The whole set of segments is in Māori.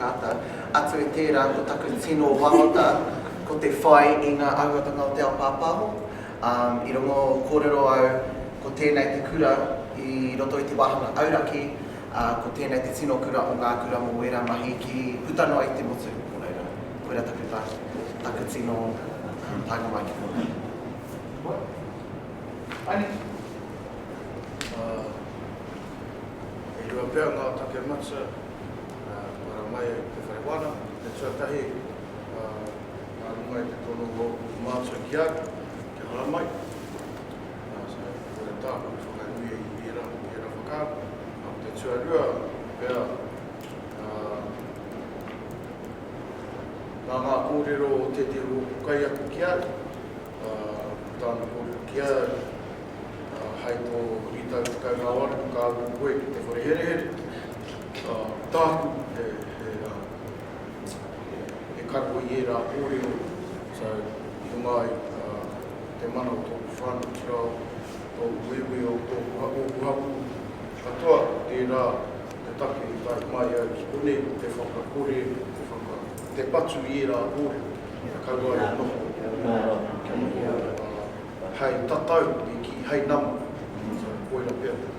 Kāta, atu i tērā ko taku tino wawata ko te whai i ngā auatanga o te ao pāpāho. I rongo kōrero au ko tēnei te kura i roto i te wāhanga auraki, ā, ko tēnei te tino kura o ngā kura mō wērā mahi ki puta noa i te motu, nō reira, koirā taku wā, taku tino pānga mai ki konei. Koa. Anei. Ā, e rua pea ngā take matua. Whakaora mai ai te whare wana, te tuatahi nā runga i te tono o ōku mātua ki a au, kia hara mai. So, ko te taha i whakanuia i ērā, i ērā whakaaro. Ko te tuarua pea, nā ngā kōrero o tētehi o ōku kaiako ki a au, ko tāna kōrero ki a au, hai tō rītau tekau mā waru, ka uru koe ki te whare herehere. Ā, ko tāku, he, he, ā, he, he kapo i ērā kōrero, so, i runga ai, ā, ko te mana o tōku whānau, ki raro, tōku ueuē o tōku ha, ōku hapū, katoa ko tērā te take i tae mai ai ki konei, ko te whakakore, ko te whaka, ko te patu i ērā kōrero, kia kaua e noho mō rātou, kia noho, ā, hei tatau, e kī, hei nama, so, koira pea te.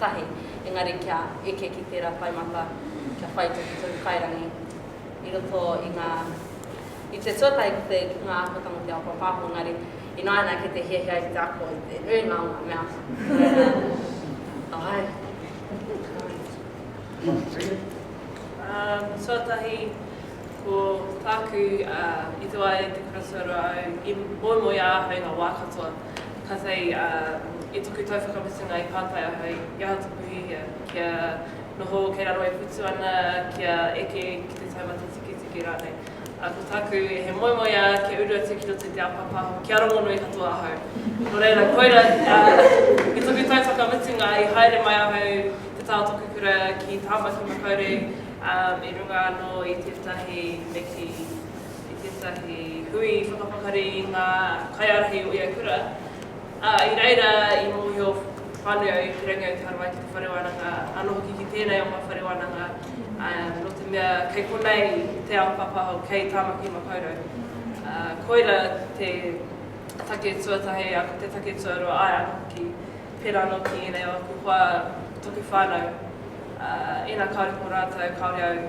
tahi, engari kia eke ki tērā whai mata, kia whai tohu tonu kairangi i roto i ngā, i te tuatahi ki te, ki ngā āhuatanga o te ao pāpāho, engari ināianei kei te hiahia ai ki te ako i te nuinga o ngā mea āe, āe. Tuatahi, ko tāku i tua ai te kura tuarua au, i moemoeā ahau i ngā wā katoa, Kātahi ā, i toku tau whakamutunga i pātai ahau i aha tōku hiahia, kia noho kei raro e putu ana, kia eke ki te taumata tiketike rānei. Ā, ko tāku, he moemoeā kia uru atu ki roto i te ao pāpāho, kia rongonui katoa ahau. Nō reira, koirā, ā, i toku tau whakamutunga i haere mai ahau ki te tā o tōku kura ki Tāmaki Makaurau, ā, i runga anō i tētahi neki. i tētahi hui whakapakari i ngā kaiārahi o ia kura, ā, i reira i mōhio whānui au ki Rangiautahara mai ki te whare wānanga, anō hoki ki tēnei o ngā whare wānanga, ā, nō te mea kei konei te ao pāpāho, kei Tāmaki Makaurau. Ā, koira te take tuatahi, ā, ko te take tuarua, āe anō hoki, pērā anō ki ēnei o aku hoa, taku whānau, ā, ina kāore ko rātou, kāore au.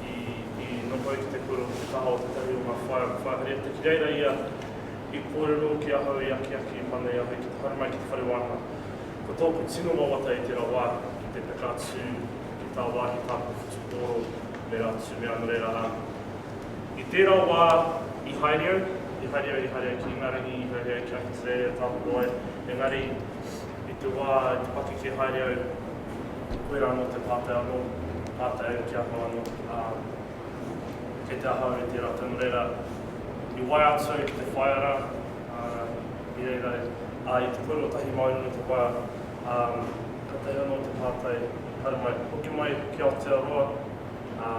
i noho ai ki te kura o te taha o tētahi o ngā whaea ko Whāhereata ki reira ia i kōrero ki ahau i akiaki i mana i a Hoi ki te haere mai ki te whare wānanga ko tōku tino wawata i tērā wā ki te peka atu ki tāwāhi tāku whutupōro me rātu me ano reira rā i tērā wā i haere au i haere au i haere au ki Ingarangi i haere au ki Ahitereiria tāku roa engari i te wā i te pakeke haere au. koirā anō te pātai anō, pātai e kia ahau anō, ā, kei te ahau e tērā tau, nō reira, i waia atu au ki te whaea rā, ā, i reira, ā, i te pono tahi Māori nō te waea, ā, kātahi anō te pātai, haere mai, hoki mai ki Aotearoa, ā,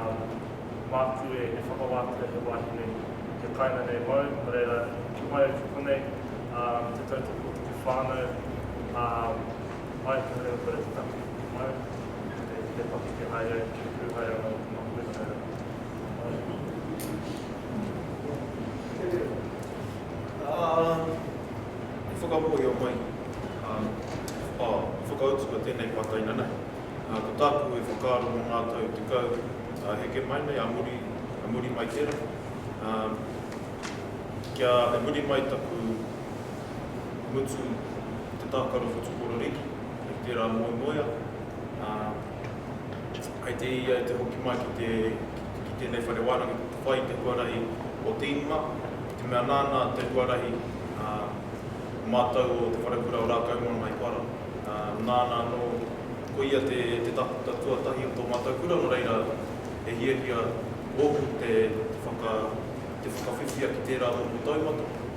māku e whakawātea he wāhi nei, he kāinga nei māu, nō reira, hoki mai au ki konei, ā, te tautoko ki te whānau, ā, Mai te haerenga whare te take, mai te te pakeke haere ai ki te pūhaerenga o te makuwena haerenga, mai. I whakamōhio mai, ā, i whakautua tēnei pātaina nei, ā, ko tāku e whakaaro mō ngā tau tekau heke mai nei, ā muri, ā muri mai tērā, ā, kia, e muri mai taku. mutu i te tākaro whatukororīki, i tērā moemoea, ā, kei te ia i te hoki mai ki te, ki tēnei whare wānanga ki te whai i te huarahi o te ingoa, i te mea nāna te huarahi, ā, o mātou o Te Wharekura o Rākaumaunga i para, ā, nāna anō, ko ia te, te takuta tuatahi o tō mātou kura, nō reira, he hiahia ōku te, te whaka, te whakawhiwhia ki tērā momo taumata.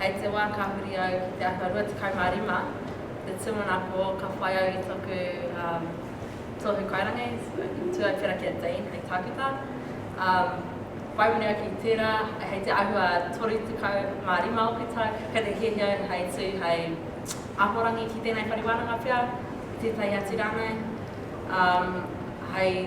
Hei te wā ka huri au ki te ata 25, te tūmanako ka whai au i toku tohu kairangi, Tuaipera ki a Dean hei tākuta. Whai muri ake i tērā, hei te āhua 35 o te tau, kei te hiahia au hei tū hei ahorangi ki tēnei whare wānanga pea, ki tētahi atu rānei, hei.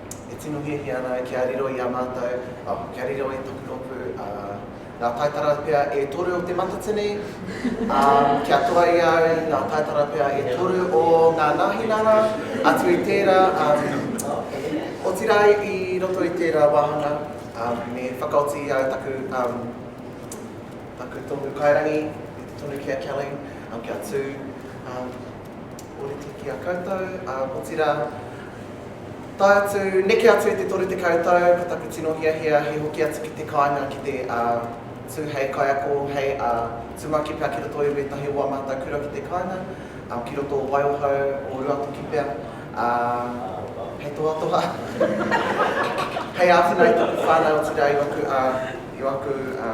E tino hiahia ana au kia riro i a mātou, oh, kia riro i taku rōpū, ā, ngā taitara pea e toru o te matatini, ā, kia toa i a au i ngā taitara pea e toru o ngā nāhinara, atu i tērā, ā, otirā i roto i tērā wāhanga, ā, me whakaoti i au taku, ā, taku tohu kairangi, e te tonu ki a Kelly, ā, kia tū, ā, Ōrite ki a koutou, ā, otirā, tae atu, neke atu i te 30 tau, ko taku tino hiahia he hoki atu ki te kāinga ki te, ā, tū hei kaiako, hei, ā, tūmaki pea ki roto i wētahi o ā mātou kura ki te kāinga, ā, ki roto o Waiohau, o Ruatoki pea, ā, hei tohatoha, hei āwhina i taku whānau, otirā i waku, ā, i waku, ā.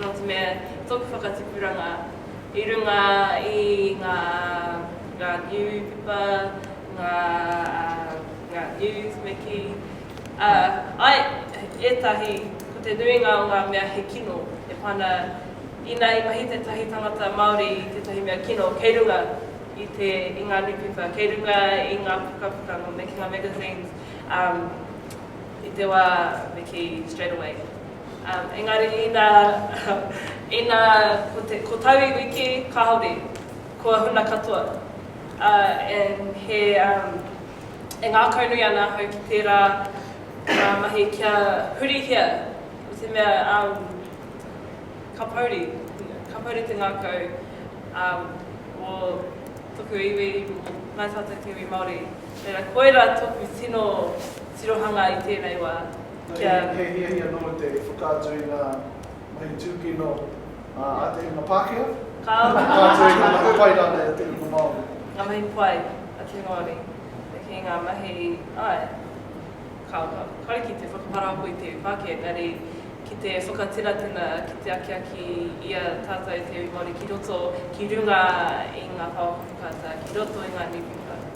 Nō te mea, tōku whakatipuranga i runga i ngā niupepa, ngā news me kī, āe, ētahi, ko te nuinga o ngā mea he kino, e pā ana, ina i mahi tētahi tangata Māori i tētahi mea kino, kei runga i ngā niupepa, kei runga i ngā pukapuka, ngā making-a-magazines, I te wā me kī straight away. Engari inā, inā ko te, ko tau iwi kē, kāore, kua huna katoa. And he, e ngākaunui ana ahau ki tērā mahi kia hurihia i te mea ka pouri, ka pouri te ngākau o toku iwi, nā tātou te iwi Māori. Reira koirā toku tino. tirohanga i tēnei wā, kia. He hiahia nōu te whakaatu i ngā mahi tūkino a te hunga Pākehā? Kāore. Te whakaatu i ngā mahi pai rānei a te hunga Māori? Ngā mahi pai a te Māori, ki ngā mahi, āe, kāore. Kāore ki te whakaparahako i te iwi Pākehā, engari ki te whakatiratena, ki te akiaki i a tātou te iwi Māori ki roto, ki runga i ngā pāpāwhata, ki roto i ngā niwhiwhata.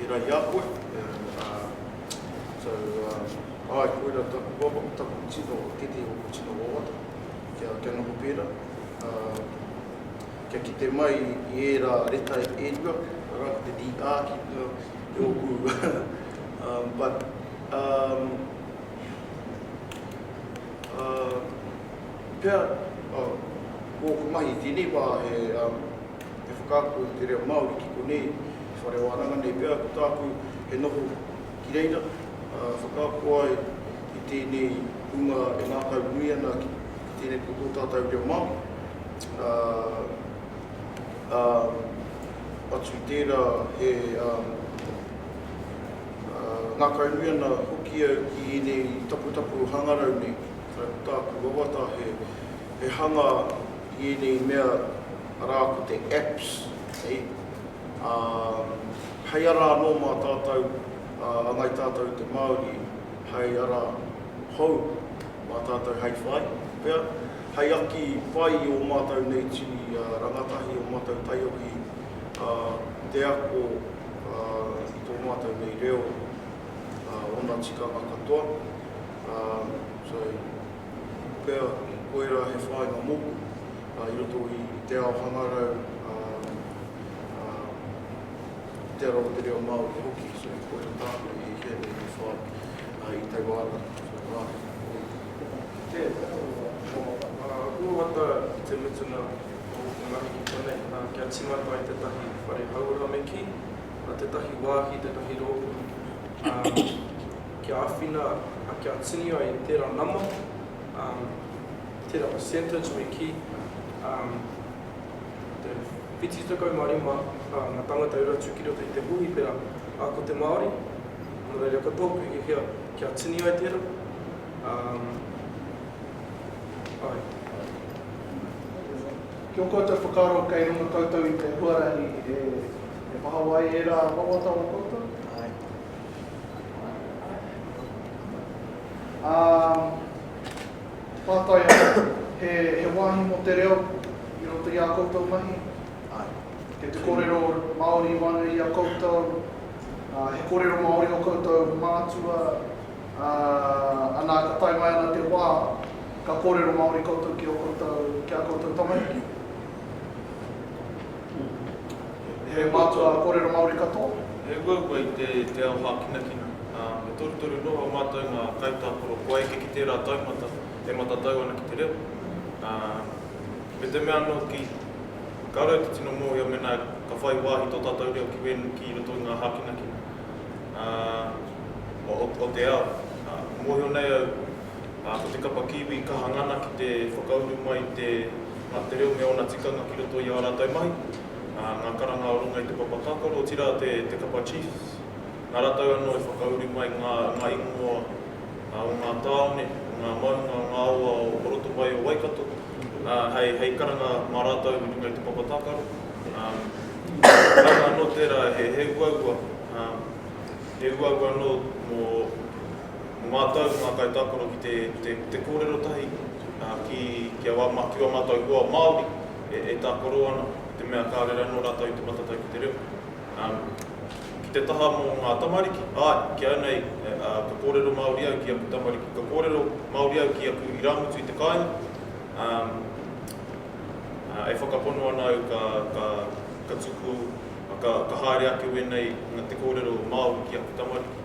I ra i a koe, so ae koira taku papa me taku tino kete o te tino wawata kia noho pera, kia kite mai i era reta e rua ara ko te DR ki runga i oku but pea ko oku mahi i tenei wa he whakaako i te reo Maori ki konei Whare wānanga nei pea ko tāku e noho ki reira, ā, whakaako ai i tēnei hunga e ngākau nui ana ki tēnei ki tō tātau reo Māori, ā, ā, atu i tērā he, ā, ā, ngākau nui ana hoki au ki ēnei taputapu hangarau nei, ā, ko tāku wawata he, he hanga i ēnei mea rā ko te apps, hei, Ā, hei ara anō mā tātou, ā, angai tātou te Māori hei ara hou mā tātou hei whai, pea, hei aki whai i ō mātou nei tini rangatahi, ō mātou taiohi, ā, te ako, ā, i tō mātou nei reo, ā, ōna tikanga katoa, ā, so. Pea, koirā he whāinga mōku i roto i te ao hangarau, i te ara o te reo Māori hoki, so koirā tāku i heke nei te whai i taua ara. So nā, koia. Tēnā, aku wawata i te mutunga o te mahi ki konei, kia tīmata i tētahi whare hauora me kī, tētahi wāhi, tētahi rōpū. kia āwhina, kia tini ai tērā nama, tērā percentage me kī, te whitu tekau mā rima ngā tāngata e uru atu ki roto i te hūhipera, ā, ko te Māori, nō reira ko tōku hiahia kia tini ai tērā, āe. Ki ō koutou whakaaro kei runga koutou i te huarahi e pahawa ai ērā wawata o koutou? Āe. Ā, pātai anō, he, he wāhi mō te reo i roto i ā koutou mahi? Āe. Kei te kōrero Māori wānui i a koutou, ā, he kōrero Māori ō koutou mātua, ā, anā ka tae mai ana te wā, ka kōrero Māori koutou ki ō koutou, ki ā koutou tamariki? He mātua kōrero Māori katoa. He uaua i te te ao hākinakina. Ā, me torutoru noho mātou ngā kaitākaro kua eke ki tērā taumata e matatau ana ki te reo. Ā, me te mea anō hoki, ka rau te tino mōhio mēnā ka whai wāhi tō tātou reo ki wēnei, ki roto i ngā hākinakina, ā, o, o te ao. Ā, mōhio nei au, ā, ko te kapa Kiwi i kaha ngana ki te whakauru mai i te ngā te reo me ōna tikanga ki roto i ā rātou mahi, ā, ngā karanga o runga i te papa tākaro, otirā te, te kapa Chiefs. Nā rātou anō i whakauru mai ngā, ngā ingoa, ā, o ngā tāone, o ngā maunga, o ngā awa o, o roto mai o Waikato, ā, hei, hei karanga mā rātou i runga i te papa tākaro. Ā, kaua anō tērā he, he uaua, ā, he uaua anō mō. Mō mātou, mō ngā kaitākaro ki te kōrero tahi, ki a wā mātou hoa Māori e tākaro ana, i te mea kāore anō rātou i te matatau ki te reo. Ki te taha mō ngā tamariki, āe, ki au nei, ka kōrero Māori au ki aku tamariki, ka kōrero Māori au ki aku irāmutu i te kāinga, e whakapono ana au ka tuku, ka haere ake wēnei te kōrero Māori ki aku tamariki.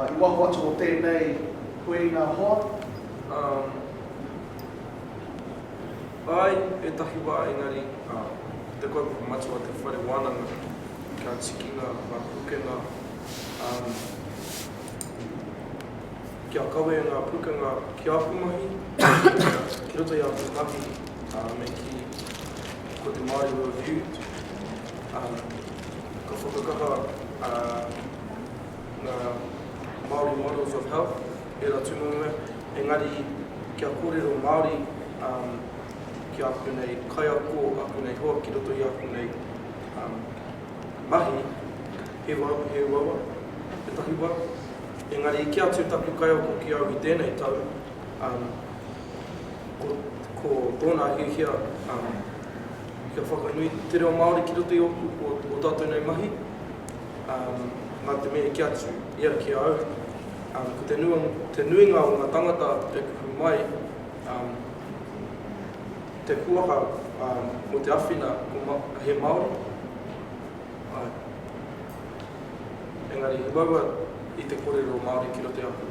I waho atu o tēnei hueinga hoa. Āe, ētahi wā engari, ko te kaupapa matua te whare wānanga kia tiki ngā pūkenga, kia kawē ngā pūkenga ki āku mahi, ki roto i āku mahi, me kī, ko te Māori World View, ka whakakaha. ngā Māori Models of Health, ērā tūmanunga, engari kia kōrero Māori ki āku nei kaiako, āku nei hoa ki roto i āku nei mahi, he uaua, he takiwā. Engari i kī atu taku kaiako ki au i tēnei tau, ko tōna hiahia kia whakanui te reo Māori ki roto i ōku, o tātou nei mahi. Nā te mea i kī atu ia ki a au, ko te nuinga o ngā tangata e kuhu mai te kuaha mō te awhina he Māori, engari he waua i te kōrero Māori ki roto i a koe.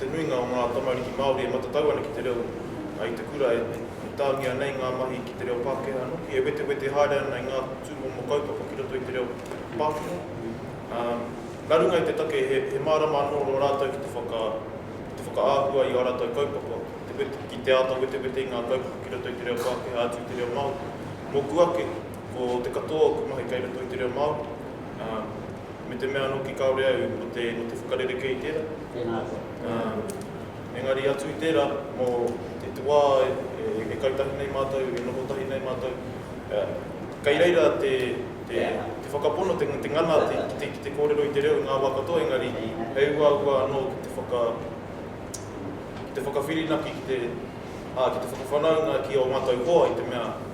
Te nuinga o ngā tamariki Māori e matatau ana ki te reo i te kura e tāngia nei ngā mahi ki te reo Pākehā noki, e wetewete haere ana i ngā tūmomo kaupapa ki roto i te reo Pākehā. Nā runga i te take he mārama anō rō rātou ki te whakaahua i ā rātou kaupapa, ki te āta wetewete i ngā kaupapa ki roto i te reo Pākehā atu i te reo Māori. Mōku ake, ko te katoa o ku mahi kei roto i te reo Māori. ā, me te mea anō ki kāore au ko te, ko te whakarerekē i tērā. Tēnā koe. Ā, engari atu i tērā, mō te, te wā e, e kai tahi nei mātou, e noho tahi nei mātou, ā, kei reira te, te, te whakapono, te, te ngana ki te, ki te kōrero i te reo i ngā wā katoa, engari he uaua anō ki te whaka, ki te whakawhirinaki, ki te, ā, ki te whakawhanaunga ki ō mātou hoa i te mea,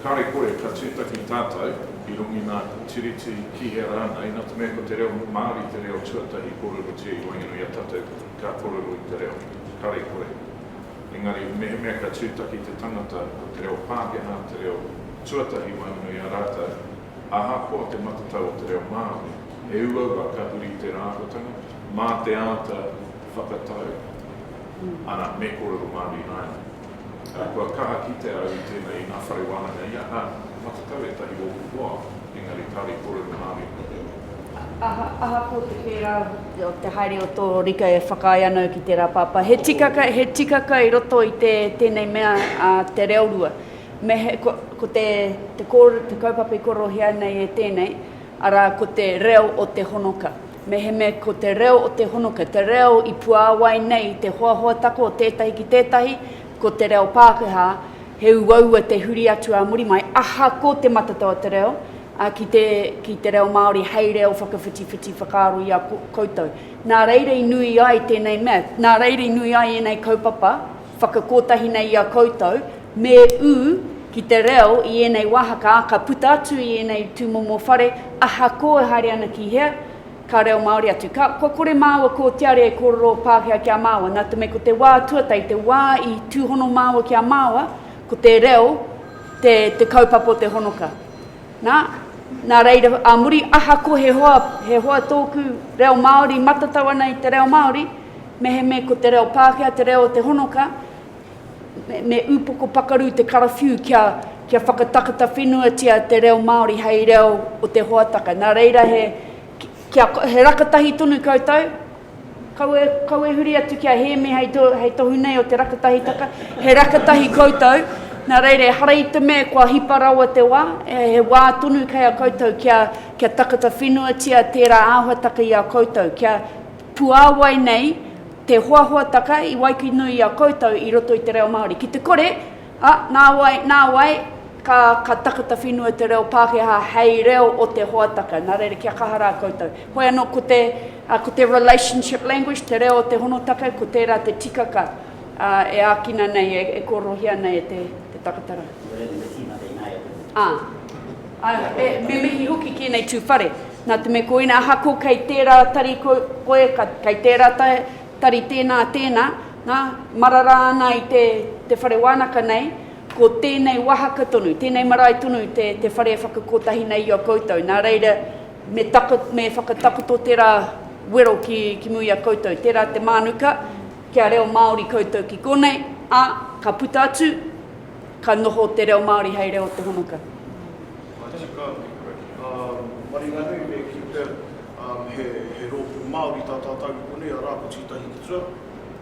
Kāre kore, ka tūtaki tātou i runga i ngā tiriti ki hea rānei, nā te mea ko te reo Māori te reo tuatahi kōrerotia i waenganui i a tātou ka kōrero i te reo. Kāre kore. Engari, mehemea ka tūtaki te tangata ko te reo Pākehā te reo tuatahi i waenganui i a rātou, ahakoa te matatau o te reo Māori, he uaua ka huri tērā āhuatanga, mā te āta whakatau, arā, me kōrero Māori rānei. Kua kaha kitea au i tēnei inā whare wānanga ia, nā, matatau ētahi ōku hoa, engari kāore i kōrero nā Ari mō te ingoa. Ahakoa te pērā o te haere o tō Rika e whakaae ana au ki tērā pāpā, he tikaka, he tikaka i roto i te, tēnei mea, te reo rua. Me he, ko, ko te, te, ko, te kaupapa i kōrerohia nei e tēnei, arā, ko te reo o te honoka. Mehemea ko te reo o te honoka, te reo i puāwai nei te hoahoa taku o tētahi ki tētahi, ko te reo Pākehā, he uaua te huri atu ā muri mai, aha ko te matatau o te reo, ā, ki te, ki te reo Māori hei reo whakawhitiwhiti whakaaro i a koutou. Nā reira i nui ai tēnei mea, nā reira i nui ai ēnei kaupapa, Whakakotahi nei i a koutou, me ū ki te reo i ēnei wāhaka, ā, ka puta atu i ēnei tūmomo whare, ahakoa e haere ana ki hea, ka reo Māori atu. Ka, kua kore māua ko te are e kōrero Pākehā ki a māua, nā te mea ko te wā tuatahi, te wā i tūhono māua ki a māua, ko te reo te, te kaupapa o te honoka. Nā, nā reira, ā muri, ahakoa he hoa, he hoa tōku reo Māori matatau ana i te reo Māori, mehemea ko te reo Pākehā te reo o te honoka, me, me upoko pakaru te karawhiu kia, kia whakatakata whenuatia te reo Māori hei reo o te hoataka. Nā reira, he, kia, he rakatahi tonu koutou, Kaua e huri atu ki a Hēmi hei tohu nei o te rakatahitaka, he rakatahi koutou, nā reira ehara i te mea kua hipa rawa te wā, he wā tonu kei a koutou kia takata whenuatia tērā āhuataka i a koutou, kia puāwai nei te hoahoataka i waikīnui i a koutou i roto i te reo Māori. Ki te kore! Ā, nāwai, nāwai, ka, ka takata whenua te reo Pākehā hei reo o te hoataka. Nā reira, kia kaha rā koutou. Hoi anō, ko te, ā, ko te relationship language, te reo o te honotaka, ko tērā te tikaka, ā, e ākina nei, e, e kōrerohia nei e te, te takatarā. Ko te reo me te tīmata ināia te reo. Ā. Ā, e, me mihi hoki ki ēnei tū whare. Nā te mea ko ina, ahakoa kei tērā tari koe, koe, ka, kei tērā tai, Tari tēnā, tēnā, nā, marara ana i te, te whare wānaka nei, ko tēnei wāhaka tonu, tēnei marae tonu te, te whare e whakakotahi nei i a koutou, nā reira, me, tako, me whakatakoto tērā wero ki, ki muri a koutou, tērā te mānuka, kia reo Māori koutou ki konei, ā, ka puta atu, ka noho te reo Māori hei reo tūhonoka. Matika atu koe. Maringanui me Kipper, he rōpū Māori tā tātou i konei, arā, ko Tītahi Te Tura.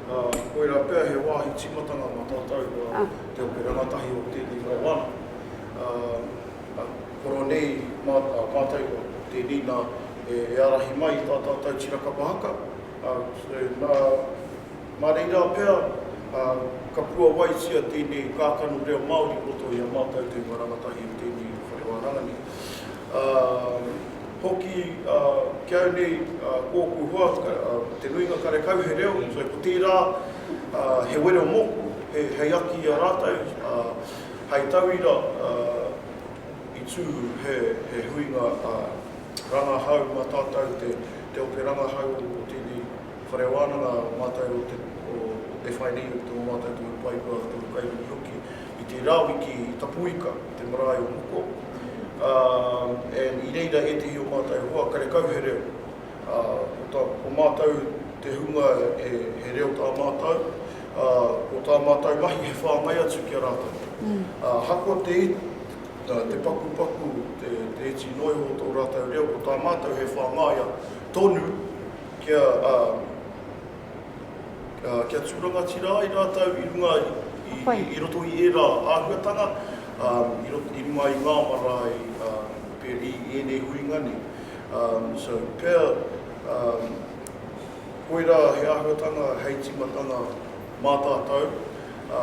Koirā pea he wāhi tīmatanga mā tātou te ope rangatahi o tēnei mau wānanga. Koro nei mātou ko tēnei nā e ārahi mai i tā tātou tiraka pahaka, nā, Mā reira pea, ka puawaitia tēnei kākano reo Māori i roto i a mātou te ingoa rangatahi o tēnei whare wānanga nei. Hoki ki au nei, ko ōku hoa, te nuinga karekau he reo, so ko tērā he wero mōku hei aki i a rātou, hai tauira i tū he huinga rangahau mā tātou te ope rangahau o tēnei. Whare Wānanga o mātou o te o te whainui o tō mātou tohu pai kua tohu kaihokihoki i te rā wiki i Tapuika i te marae o Moko and i reira ētehi o mātou hoa karekau he reo ā ko tā ko mātou te hunga e he reo tā mātou ā ko tā mātou mahi he whāngai atu ki a rātou ahakoa te te pakupaku te te iti noa iho o tō rātou reo ko tā mātou he whāngaia tonu. Kia, ā, ā, kia tū rangatira ai rātou i runga i, i, i roto i ērā āhuatanga, ā, i roto, i runga i ngā marae, ā, pē, i, i ēnei huinga nei. Ā, so, pea, ā, koirā he āhuatanga hei tīmatanga mā tātou, ā,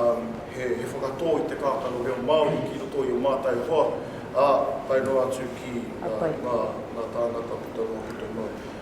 he, he whakatō i te kākano reo Māori ki roto i ō mātou hoa, ā, tae noa atu ki, ā, ngā, ngā tāngata puta noa, puta noa.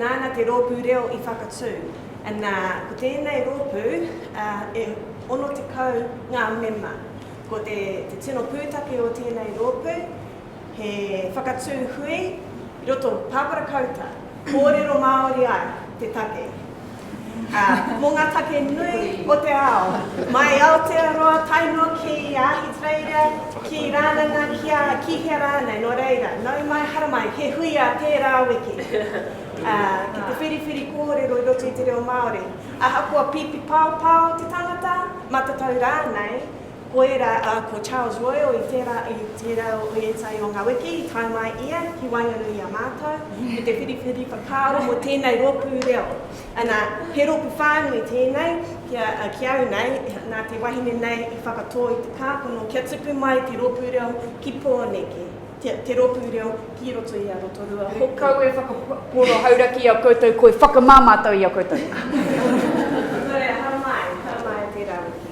Nāna te rōpū reo i whakatū, nā, ko tēnei rōpū e 60 ngā mema. Ko te tino pūtake o tēnei rōpū, he whakatū hui i roto pāpara kauta, kōrero Māori ai te take. Ā, mō ngā take nui o te ao, mai i Aotearoa tae noa ki Ahitereiria, ki Rānana, ki a, ki hea rānei, nō reira, nau mai, haramai, he huia tērā wiki. Ā, ki te whiriwhiri kōrero i roto i te reo Māori, ahakoa pīpi paopao te tangata, matatau rānei, Koirā, ā, ko Charles Royal i whērā i te rau o ētahi o ngā wiki i tae mai ia ki waenganui i a mātou, i te whiriwhiri whakaaro mō tēnei rōpū reo. Anā, he rōpū whānui tēnei ki au nei, nā te wahine nei i whakatō i te kākano kia tupu mai te rōpū reo ki Pōneke, te rōpū reo ki roto i a Rotorua hoki. He kau e whakapōro hauraki i a koutou, koi whakamā mātou i a koutou. Nō reira, haramai, haramai te rā wiki.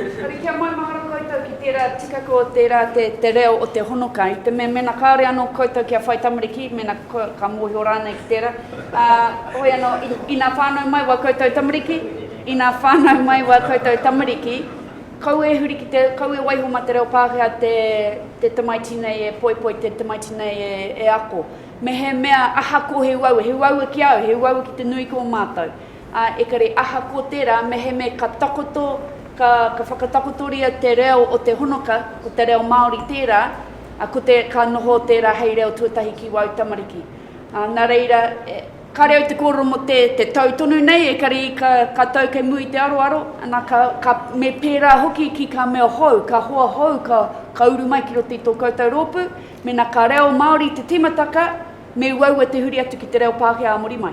Engari kia maumahara koutou ki tērā tikaka o tērā te reo o te honoka, i te mea mēnā kāore anō koutou kia whai tamariki, mēnā ka mōhio rānei ki tērā, ā, hoi anō, inā whānau mai wā koutou tamariki, inā whānau mai wā koutou tamariki, kaua e huri ki te, kaua e waiho mā te reo Pākehā te tamaiti nei e poipoi, te tamaiti nei e ako. Mehemea ahakoa he uaua, he uaua ki a au, he uaua ki te nui ki ō mātou. Ā, ekare aha ko tērā, mehemea ka takoto, ka, ka whakatakotoria te reo o te honoka, ko te reo Māori tērā, ā, ko te, ka noho tērā hei reo tuatahi ki wāu tamariki. Ā, nā reira, e. Kāre au te kōrero mō te, te tau tonu nei, ekare i ka, ka tau kei muri i te aroaro, ana ka, ka, me pērā hoki ki kā mea hou, kā hoa hou ka, ka uru mai ki roto i tō koutou rōpū, mēnā ka reo Māori te tīmataka, me uaua te huri atu ki te reo Pākehā ā muri mai.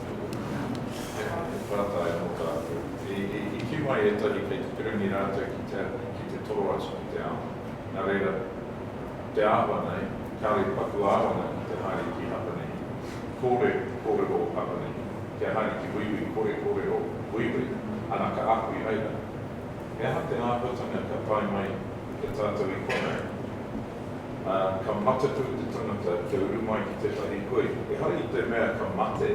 He whātā e mō tātou. I kī mai ētahi kei te pirangi rātou ki te ki te toro atu ki te ao. Nā reira, te āhua nei, kāore paku āwanga ki te haere ki Hapanihi. Kōre kōrero Hapanihi, kia haere ki Wīwī kore kōrero Wīwī, ana ka ako i reira. He aha te āhuatanga ka tae mai e tātou i konei? ā, ka mataku te tangata kia uru mai ki tētahi hui. Ehara i te mea ka mate,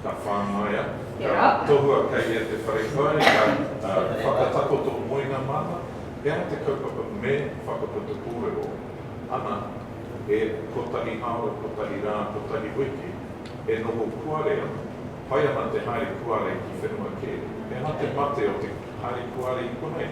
ka whāngaia, ka tohua kei ia te whare kai, ka whakatakoto moenga māna, he aha te kaupapa me whakaputa kōrero ana e kotahi haora, kotahi rā, kotahi wiki e noho kuare ana, pai ana te haere kuare ki whenua kē. He aha te mate o te haere kuare i konei?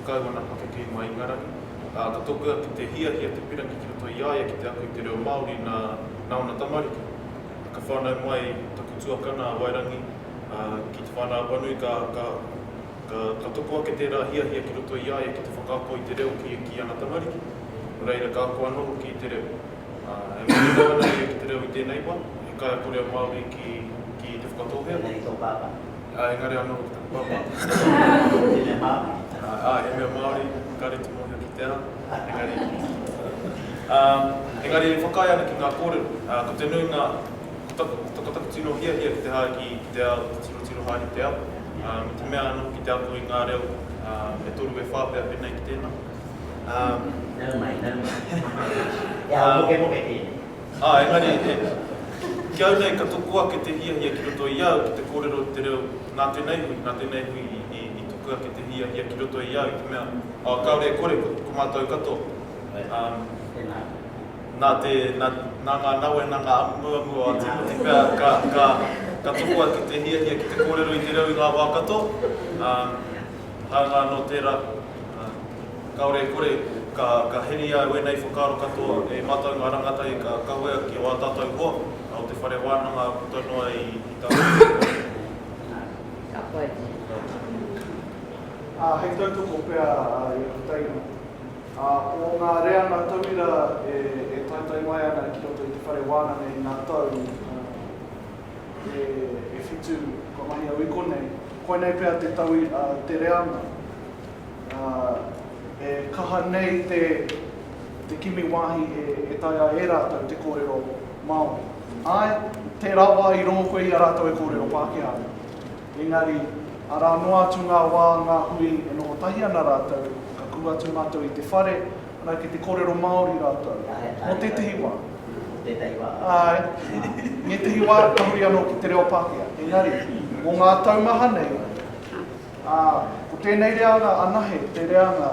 Kau ana pakeke i Maingarangi, ā, ka toku atu te hiahia te pirangi ki roto i a ia ki te ako i te reo Māori nā, nā ōna tamariki. Ka whānau mai taku tuakana a Wairangi, ā, ki Te Whānau-a-Panui, ka, ka, ka, ka toko ake tērā hiahia ki roto i a ia ki te whakaako i te reo ki, ki ana tamariki. Nō reira, ka ako anō hoki i te reo. Ā, e mōhio ana ia ki te reo i tēnei wā, he kaiako reo Māori ki, ki Te Whakatōhea. Tēnei i tō pāpā. Ā, engari anō ki te whakapau māku. He mea Māori. Ā, he mea Māori, kāre te mōhio ki te ao, engari. Ā, engari e whakaae ana ki ngā kōrero. Ā, ko te nuinga, ko taku, ko taku tino hiahia ki te haere ki, ki te ao, ki te tirotiro haere i te ao, ā, me te mea anō ki te ako i ngā reo, ā, e toru e whā pea pēnei ki tēnā. Ā. Nau mai, nau mai. He ao mokemoke tēnei. Ā, engari, e, ki au nei ka toko ake te hiahia ki roto i au ki te kōrero i te reo nā tēnei hui, nā tēnei hui i, i, i tuku ake te hiahia ki roto i au i te mea, ā, kāore e kore, ko, ko mātou katoa, ā, nā te, nā, nā ngā nawe, nā ngā amuamu o Ātimoti pea, ka, ka, ka toko ake te hiahia ki te kōrero i te reo i ngā wā katoa, ā, hāunga anō tērā. Ā, kāore e kore, ka, ka heria e wēnei whakaaro katoa, e mātou ngā rangatahi ka kawea ki ō tātou hoa, ā, o te whare wānanga puta noa i, i tātou. Ka pai. Ka pai. Ā, hei tautoko pea a Iahutaina, ā, o ngā reanga tauira e, e taetae mai ana ki roto i te whare wānanga i ngā tau, ā, E whitu, kua mahi au i konei. Koinei pea te tau a te reanga. E kaha nei te kimi wāhi e taea e rātou te kōrero Māori. Āe, tērā wā i rongo koe i a rātou e kōrero Pākehā ana. Engari, arā noa atu ngā wā, ngā hui e noho tahi ana rātou, ka kū atu mātou i te whare, Anā, ki te kōrero Māori rātou. Mō tētahi wā. Mō tētahi wā. Āe. Ā, ētahi wā, ka huri anō ki te reo Pākehā. Engari, mō ngā tau maha nei, ā, ko tēnei reanga anahe te reanga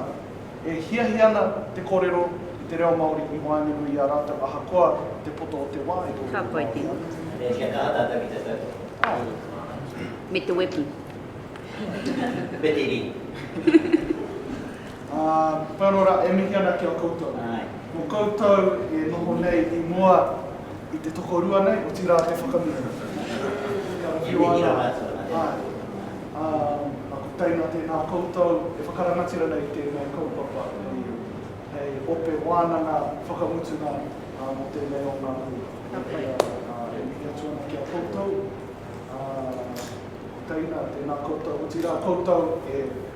e hiahia ana te kōrero i te reo Māori i waenganui i a rātou ahakoa te poto o te wā e kōrero Māori ana. Ka pai tēnei. Nē, kia kaha tātou ki te tau. Āe. Me te wepu. Me te rī. Ā, whakaaro rā, e mihi ana ki a koutou. Mō koutou e noho nei i mua i te tokorua nei, otirā te whakamihi. Kia whiua ana, āe. Ā, ā, ko teina tēnā koutou e whakarangatira nei tēnei kaupapa hei, hei ope wānanga whakamutunga, ā, mō tēnei o ngā hui. Otirā, ā, e mihi atu ana ki a koutou, ā, ko teina tēnā koutou, otirā koutou e